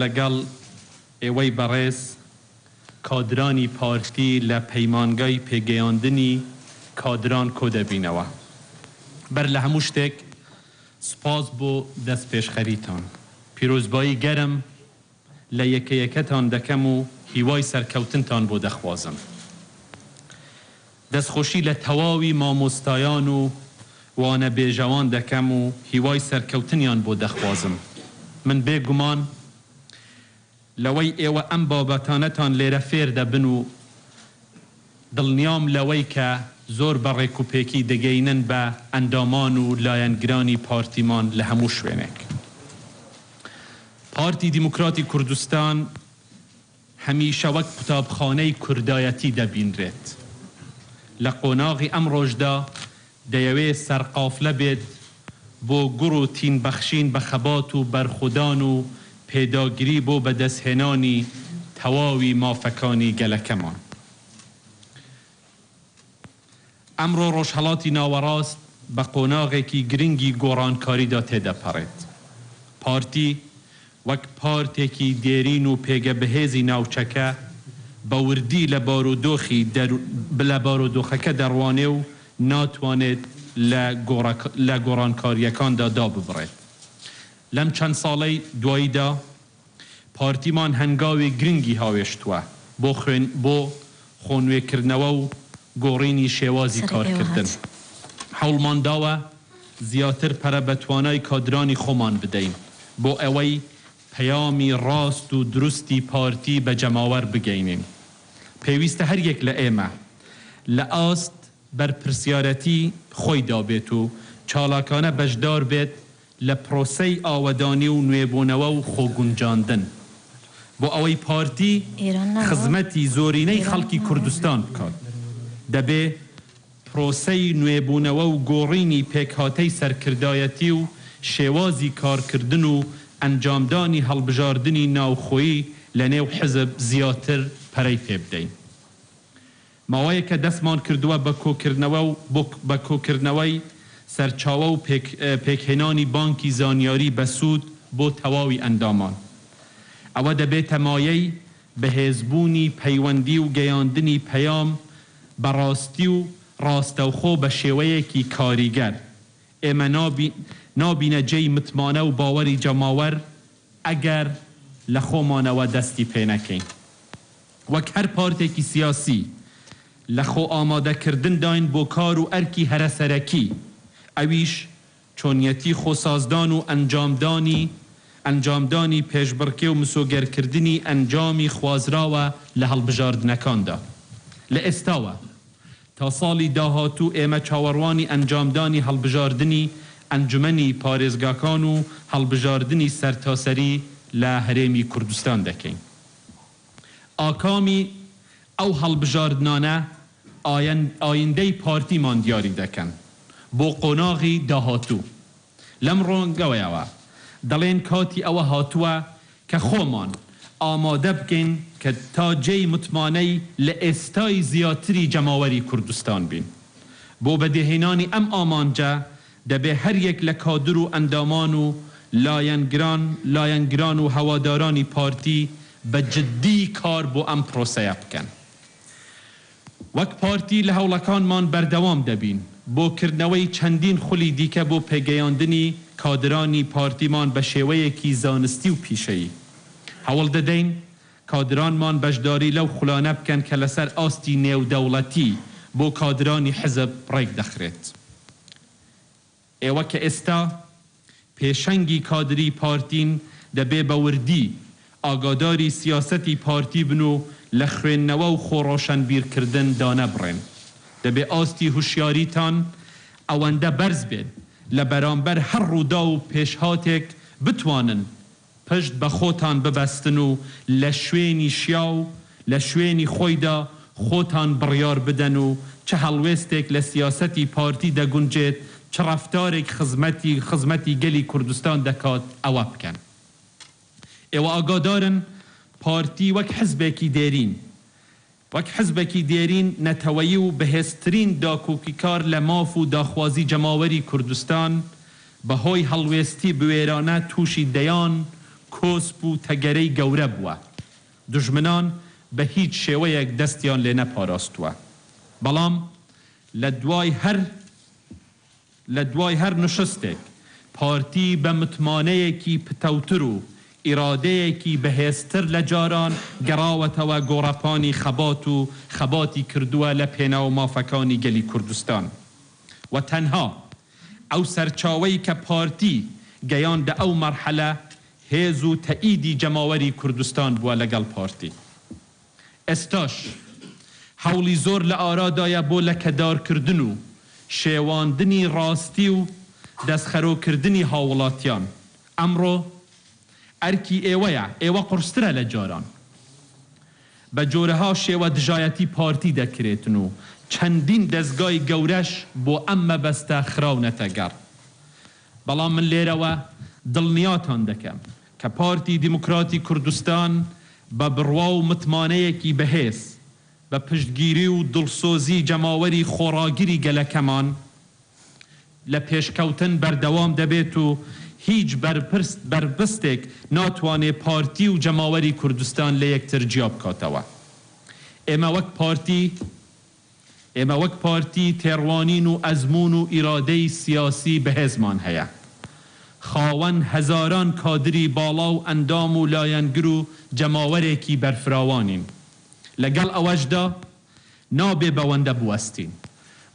لەگەڵ ئێوەی بەڕێز کادرانی پارتی لە پەیمانگای پێگەیاندنی کادران کۆدەبینەوە. بەر لە هەموو شتێک سوپاس بۆ دەستپێشخەریتان. پیرۆزبایی گەرم لە یەکەیەکەتان دەکەم و هیوای سەرکەوتنتان بۆ دەخوازم. دەستخۆشی لە تەواوی مامۆستایان و وانەبێژەوان دەکەم و هیوای سەرکەوتنیان بۆ دەخوازم. من بێ گومان لەوەی ئێوە ئەم بابەتانەتان لێرە فێر دەبن و دڵنیام لەوەی کە زۆر بە ڕێکوپێکی دەگەینن بە ئەندامان و لایەنگرانی پارتیمان لە هەموو شوێنێک. پارتی دیموکراتی کوردستان هەمیشە وەک قوتابخانەی کوردایەتی دەبینرێت. لە قۆناغی ئەمڕۆشدا دەیەوێت سەرقافلە بێت بۆ گوڕ و تین بەخشین بە خەبات و بەرخودان و پێداگری بۆ بەدەستهێنانی تەواوی مافەکانی گەلەکەمان. ئەمڕۆ ڕۆژهەڵاتی ناوەڕاست بە قۆناغێکی گرنگی گۆڕانکاریدا تێدەپەڕێت. پارتی وەک پارتێکی دێرین و پێگە بەهێزی ناوچەکە بە وردی لە بارودۆخی لە بارودۆخەکە دەڕوانێ و ناتوانێت لە لە گۆڕانکارییەکاندا داببڕێت لەم چەند ساڵەی دواییدا. پارتیمان هەنگاوی گرنگی هاوێشتووە بۆ خوێن بۆ خۆنوێکردنەوە و گۆڕینی شێوازی کارکردن. هەوڵمان داوە زیاتر پەرە بە توانای کادرانی خۆمان بدەین بۆ ئەوەی پەیامی ڕاست و دروستی پارتی بە جەماوەر بگەینین. پێویستە هەر یەک لە ئێمە لە ئاست بەرپرسیارەتی خۆیدا بێت و چالاکانە بەشدار بێت لە پرۆسەی ئاوەدانی و نوێبونەوە و خۆگونجاندن بۆ ئەوەی پارتی خزمەتی زۆرینەی خەڵکی کوردستان بکات دەبێ پرۆسەی نوێبونەوە و گۆڕینی پێکهاتەی سەرکردایەتی و شێوازی کارکردن و ئەنجامدانی هەڵبژاردنی ناوخۆیی لە نێو حزب زیاتر پەرەی پێبدەین. ماوەیەکە دەستمان کردووە بە کۆکردنەوە و بە کۆکردنەوەی سەرچاوە و پێکهێنانی بانکی زانیاری بەسوود بۆ تەواوی ئەندامان. ئەوە دەبێتە مایەی بەهێزبوونی پەیوەندی و گەیاندنی پەیام بە ڕاستی و ڕاستەوخۆ بە شێوەیەکی کاریگەر. ئێمە نابینە جێی متمانە و باوەری جەماوەر ئەگەر لە خۆمانەوە دەستی پێنەکەین. وەک هەر پارتێکی سیاسی لە خۆئامادەکردنداین بۆ کار و ئەرکی هەرە سەرەکی، ئەویش چۆنیەتی خۆسازدان و ئەنجامدانی ئەنجامدانی پێشبڕکێ و مسۆگەرکردنی ئەنجامی خوازراوە لە هەڵبژاردنەکاندا. لە ئێستاوە تا ساڵی داهاتوو ئێمە چاوەڕوانی ئەنجامدانی هەڵبژاردنی ئەنجومەنی پارێزگاکان و هەڵبژاردنی سەرتاسەری لە هەرێمی کوردستان دەکەین. ئاکامی ئەو هەڵبژاردنانە ئایندەی پارتیمان دیاری دەکەن بۆ قۆناغی داهاتوو. لەم ڕوانگەوەیەوە دەڵێین کاتی ئەوە هاتووە کە خۆمان ئامادە بکەین کە تا جێی متمانەی لە ئێستای زیاتری جەماوەری کوردستان بین. بۆ بەدیهێنانی ئەم ئامانجە دەبێ هەریەک لە کادر و ئەندامان و لایەنگران لایەنگران و هەوادارانی پارتی بە جددی کار بۆ ئەم پرۆسەیە بکەن. وەک پارتی لە هەوڵەکانمان بەردەوام دەبین بۆ کردنەوەی چەندین خولی دیکە بۆ پێگەیاندنی کادرانی پارتیمان بە شێوەیەکی زانستی و پیشەیی. هەوڵ دەدەین کادرانمان بەشداری لەو خولانە بکەن کە لەسەر ئاستی نێودەوڵەتی بۆ کادرانی حزب ڕێکدەخرێت. ئێوە کە ئێستا پێشەنگی کادری پارتین دەبێ بە وردی ئاگاداری سیاسەتی پارتی بن و لە خوێندنەوە و خۆڕۆشەنبیرکردن دانەبڕێن. دەبێ ئاستی هوشیاریتان ئەوەندە بەرز بێت لە بەرامبەر هەر ڕووداو و پێشهاتێک بتوانن پشت بە خۆتان ببەستن و لە شوێنی شیاو، لە شوێنی خۆیدا خۆتان بڕیار بدەن و چ هەڵوێستێک لە سیاسەتی پارتی دەگونجێت، چ ڕەفتارێک خزمەتی خزمەتی گەلی کوردستان دەکات ئەوە بکەن. ئێوە ئاگادارن پارتی وەک حزبێکی دێرین، وەک حزبێکی دێرین نەتەوەیی و بەهێزترین داکۆکیکار لە ماف و داخوازی جەماوەری کوردستان، بە هۆی هەڵوێستی بوێرانە تووشی دەیان کۆسپ و تەگەرەی گەورە بووە. دوژمنان بە هیچ شێوەیەک دەستیان لێ نەپاراستووە. بەڵام لە دوای هەر. لە دوای هەر نشستێک پارتی بە متمانەیەکی پتەوتر و ئیرادەیەکی بەهێزتر لە جاران گەڕاوەتەوە گۆڕەپانی خەبات و خەباتی کردووە لە پێناو مافەکانی گەلی کوردستان و تەنها ئەو سەرچاوەی کە پارتی گەیاندە ئەو مەرحەلە هێز و تەئیدی جەماوەری کوردستان بووە لەگەڵ پارتی. ئێستاش هەوڵی زۆر لە ئارادایە بۆ لەکەدارکردن و شێواندنی ڕاستی و دەستخەرۆکردنی هاووڵاتیان. ئەمڕۆ ئەرکی ئێوەیە، ئێوە قورسترە لە جاران. بە جۆرەها شێوە دژایەتی پارتی دەکرێتن و چەندین دەزگای گەورەش بۆ ئەم مەبەستە خراونەتە گەڕ. بەڵام من لێرەوە دڵنیاتان دەکەم، کە پارتی دیموکراتی کوردستان بە بڕوا و متمانەیەکی بەهێز، بە پشتگیری و دڵسۆزی جەماوەری خۆڕاگری گەلەکەمان لە پێشکەوتن بەردەوام دەبێت و هیچ بەرپرس بەربستێک ناتوانێت پارتی و جەماوەری کوردستان لە یەکتر جیا بکاتەوە. ئێمە وەک پارتی. ئێمە وەک پارتی تێڕوانین و ئەزموون و ئیرادەی سیاسی بەهێزمان هەیە. خاوەن هەزاران کادری باڵا و ئەندام و لایەنگر و جەماوەرێکی بەرفراوانین. لەگەڵ ئەوەشدا نابێ بەوەندە بوەستین،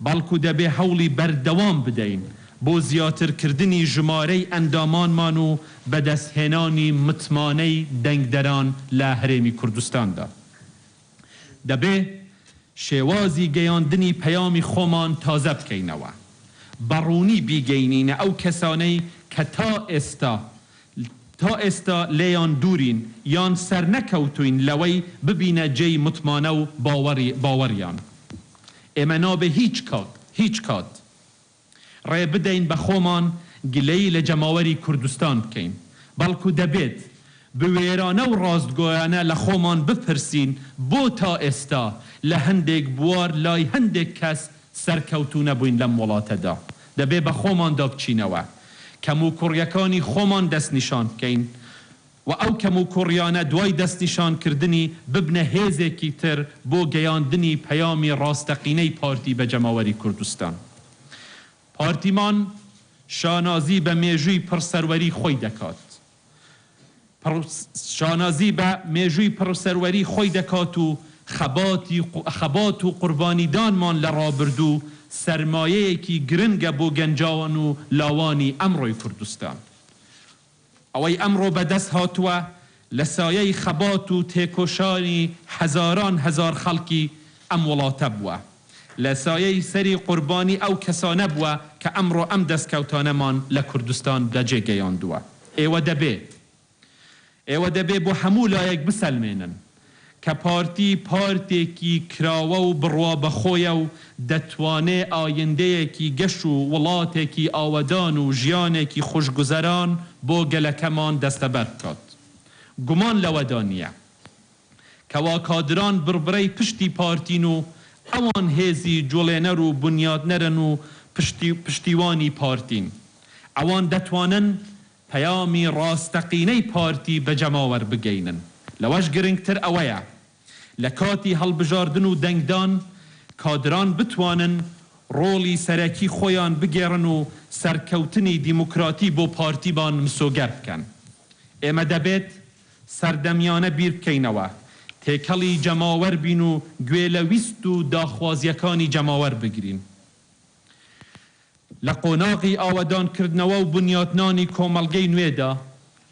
بەڵکو دەبێ هەوڵی بەردەوام بدەین بۆ زیاترکردنی ژمارەی ئەندامانمان و بەدەستهێنانی متمانەی دەنگدەران لە هەرێمی کوردستاندا. دەبێ شێوازی گەیاندنی پەیامی خۆمان تازە بکەینەوە، بە ڕوونی بیگەینینە ئەو کەسانەی کە تا ئێستا تا ئێستا لێیان دوورین یان سەرنەکەوتووین لەوەی ببینە جێی متمانە و باوەڕی باوەڕیان ئێمە نابێ هیچ کات هیچ کات. ڕێ بدەین بە خۆمان گلەیی لە جەماوەری کوردستان بکەین، بەڵکو دەبێت بوێرانە و ڕاستگۆیانە لە خۆمان بپرسین بۆ تا ئێستا لە هەندێک بوار لای هەندێک کەس سەرکەوتوو نەبووین لەم وڵاتەدا؟ دەبێ بە خۆماندا بچینەوە، کەموکوڕیەکانی خۆمان دەستنیشان بکەین، و ئەو کەموکوڕیانە دوای دەستنیشانکردنی ببنە هێزێکی تر بۆ گەیاندنی پەیامی ڕاستەقینەی پارتی بە جەماوەری کوردستان. پارتیمان شانازی بە مێژووی پڕ سەروەری خۆی دەکات پڕ شانازی بە مێژووی پڕ سەروەری خۆی دەکات و خەباتی خەبات و قوربانیدانمان لە ڕابردوو سەرمایەیەکی گرنگە بۆ گەنجان و لاوانی ئەمڕۆی کوردستان ئەوەی ئەمڕۆ بەدەست هاتووە لە سایەی خەبات و تێکۆشانی هەزاران هەزار خەڵکی ئەم وڵاتە بووە، لە سایەی سەری قوربانی ئەو کەسانە بووە کە ئەمڕۆ ئەم دەستکەوتانەمان لە کوردستان بەجێ گەیاندووە. ئێوە دەبێ ئێوە دەبێ بۆ هەموو لایەک بسەلمێنن کە پارتی پارتێکی کراوە و بڕوا بە خۆیە و دەتوانێ ئایندەیەکی گەش و وڵاتێکی ئاوەدان و ژیانێکی خوشگوزەران بۆ گەلەکەمان دەستەبەر بکات. گومان لەوەدا نییە. کەوا کادران بڕبرەی پشتی پارتین و ئەوان هێزی جوڵێنەر و بنیادنەرن و پشتیوانی پارتین. ئەوان دەتوانن. پەیامی ڕاستەقینەی پارتی بە جەماوەر بگەینن. لەوەش گرنگتر ئەوەیە لە کاتی هەڵبژاردن و دەنگدان کادران بتوانن ڕۆڵی سەرەکی خۆیان بگێڕن و سەرکەوتنی دیموکراتی بۆ پارتیمان مسۆگەر بکەن. ئێمە دەبێت سەردەمیانە بیربکەینەوە، تێکەڵی جەماوەر بین و گوێ لە ویست و داخوازییەکانی جەماوەر بگرین. لە قۆناغی ئاوەدانکردنەوە و بنیاتنانی کۆمەڵگەی نوێدا،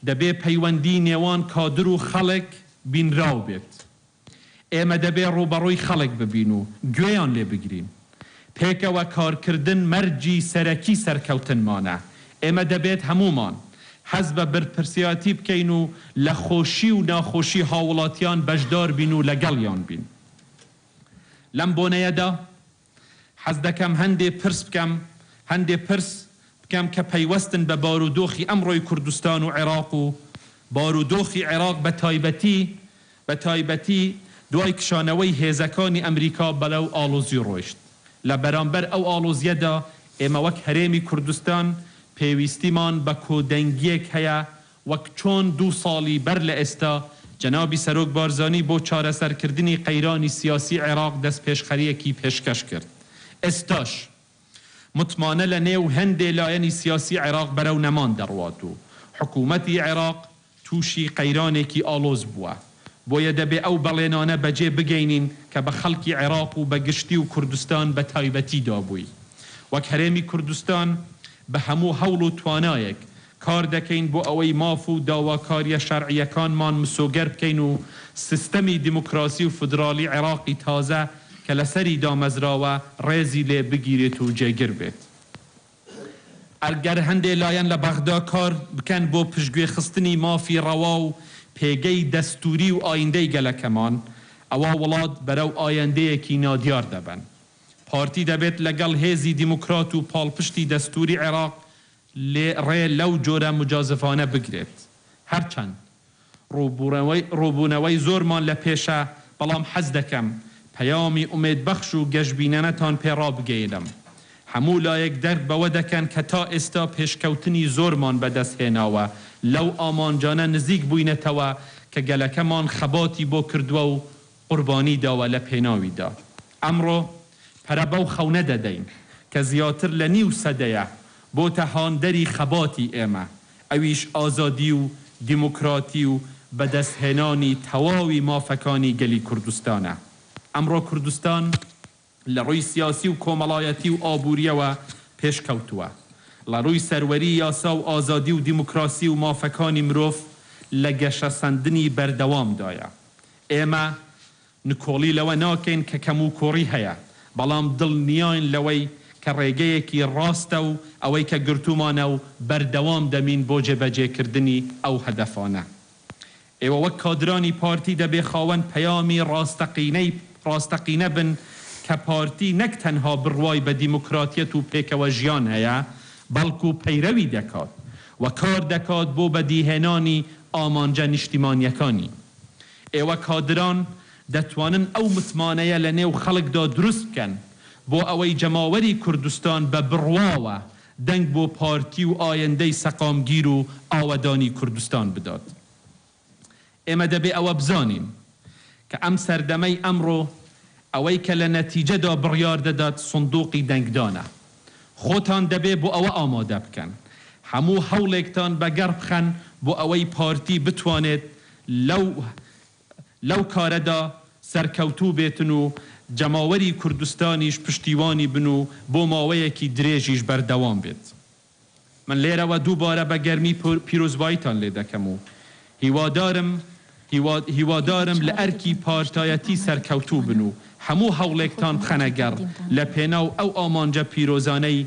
دەبێ پەیوەندیی نێوان کادر و خەڵک بینراو بێت. ئێمە دەبێ ڕووبەڕووی خەڵک ببین و گوێیان لێ بگرین. پێکەوە کارکردن مەرجی سەرەکی سەرکەوتنمانە. ئێمە دەبێت هەموومان هەست بە بەرپرسیاتی بکەین و لە خۆشی و ناخۆشی هاووڵاتیان بەشدار بین و لەگەڵیان بین. لەم بۆنەیەدا. حەز دەکەم هەندێ پرس بکەم هەندێ پرس بکەم کە پەیوەستن بە بارودۆخی ئەمڕۆی کوردستان و عێراق و بارودۆخی عێراق بە تایبەتی بە تایبەتی دوای کشانەوەی هێزەکانی ئەمریکا بەرەو ئاڵۆزی ڕۆیشت لە بەرامبەر ئەو ئاڵۆزیەدا ئێمە وەک هەرێمی کوردستان پێویستیمان بە کۆدەنگیەک هەیە وەک چۆن دوو ساڵی بەر لە ئێستا جەنابی سەرۆک بارزانی بۆ چارەسەرکردنی قەیرانی سیاسی عێراق دەستپێشخەرییەکی پێشکەش کرد، ئێستاش متمانە لە نێو هەندێ لایەنی سیاسی عێراق بەرەو نەمان دەڕوات و حکوومەتی عێراق تووشی قەیرانێکی ئاڵۆز بووە، بۆیە دەبێ ئەو بەڵێنانە بەجێ بگەینین کە بە خەڵکی عێراق و بە گشتی و کوردستان بە تایبەتی دابووی وەک هەرێمی کوردستان بە هەموو هەوڵ و توانایەک کار دەکەین بۆ ئەوەی ماف و داواکارییە شەرعییەکانمان مسۆگەر بکەین و سیستەمی دیموکراسی و فیدراڵی عێراقی تازە کە لەسەری دامەزراوە ڕێزی لێ بگیرێت و جێگر بێت. ئەگەر هەندێ لایەن لە بەغدا کار بکەن بۆ پشتگوێ خستنی مافی ڕەوا و پێگەی دەستووری و ئاییندەی گەلەکەمان، ئەوا وڵات بەرەو ئایندەیەکی نادیار دەبەن. پارتی دەبێت لەگەڵ هێزی دیموکرات و پاڵپشتی دەستووری عێراق لێ ڕێ لەو جۆرە موجازفانە بگرێت. هەرچەند ڕووبوونەوەی زۆرمان لە پێشە، بەڵام حەز دەکەم پەیامی ئومێدبەخش و گەشبینانەتان پێ ڕابگەیێنم. هەموو لایەک دەرک بەوە دەکەن کە تا ئێستا پێشکەوتنی زۆرمان بەدەست هێناوە، لەو ئامانجانە نزیک بووینەتەوە کە گەلەکەمان خەباتی بۆ کردووە و قوربانی داوە لە پێناویدا. ئەمڕۆ پەرە بەو خەونە دەدەین کە زیاتر لە نیو سەدەیە بۆتە هاندەری خەباتی ئێمە، ئەویش ئازادی و دیموکراتی و بەدەستهێنانی تەواوی مافەکانی گەلی کوردستانە. ئەمڕۆ کوردستان. لە ڕووی سیاسی و کۆمەڵایەتی و ئابوورییەوە پێشکەوتووە. ڵە ڕووی سەروەری یاسا و ئازادی و دیموکراسی و مافەکانی مرۆڤ لە گەشەسەندنی بەردەوامدایە. ئێمە نکۆڵی لەوە ناکەین کە کەموکوڕی هەیە، بەڵام دڵنیاین لەوەی کە ڕێگەیەکی ڕاستە و ئەوەی کە گرتوومانە و بەردەوام دەمین بۆ جێبەجێکردنی ئەو هەدەفانە. ئێوە وەک کادرانی پارتی دەبێ خاوەن پەیامی ڕاستەقینەی ڕاستەقینە بن کە پارتی نەک تەنها بڕوای بە دیموکراتیەت و پێکەوەژیان هەیە، بەڵکو پەیرەوی دەکات و کار دەکات بۆ بەدیهێنانی ئامانجە نیشتیمانیەکانی. ئێوە کادران دەتوانن ئەو متمانەیە لە نێو خەڵکدا دروست بکەن بۆ ئەوەی جەماوەری کوردستان بە بڕواوە دەنگ بۆ پارتی و ئایندەی سەقامگیر و ئاوەدانی کوردستان بدات. ئێمە دەبێ ئەوە بزانین کە ئەم سەردەمەی ئەمڕۆ ئەوەی کە لە نەتیجەدا بڕیار دەدات سندوقی دەنگدانە. خۆتان دەبێ بۆ ئەوە ئامادە بکەن. هەموو هەوڵێکتان بەگەڕ بخەن بۆ ئەوەی پارتی بتوانێت لەو. لەو کارەدا سەرکەوتوو بێتن و جەماوەری کوردستانیش پشتیوانی بن و بۆ ماوەیەکی درێژیش بەردەوام بێت. من لێرەوە دووبارە بە گەرمی پیرۆزباییتان لێ دەکەم و هیوادارم هیوادارم لە ئەرکی پارتایەتی سەرکەوتوو بن و هەموو هەوڵێکتان بخەنە گەڕ لە پێناو ئەو ئامانجە پیرۆزانەی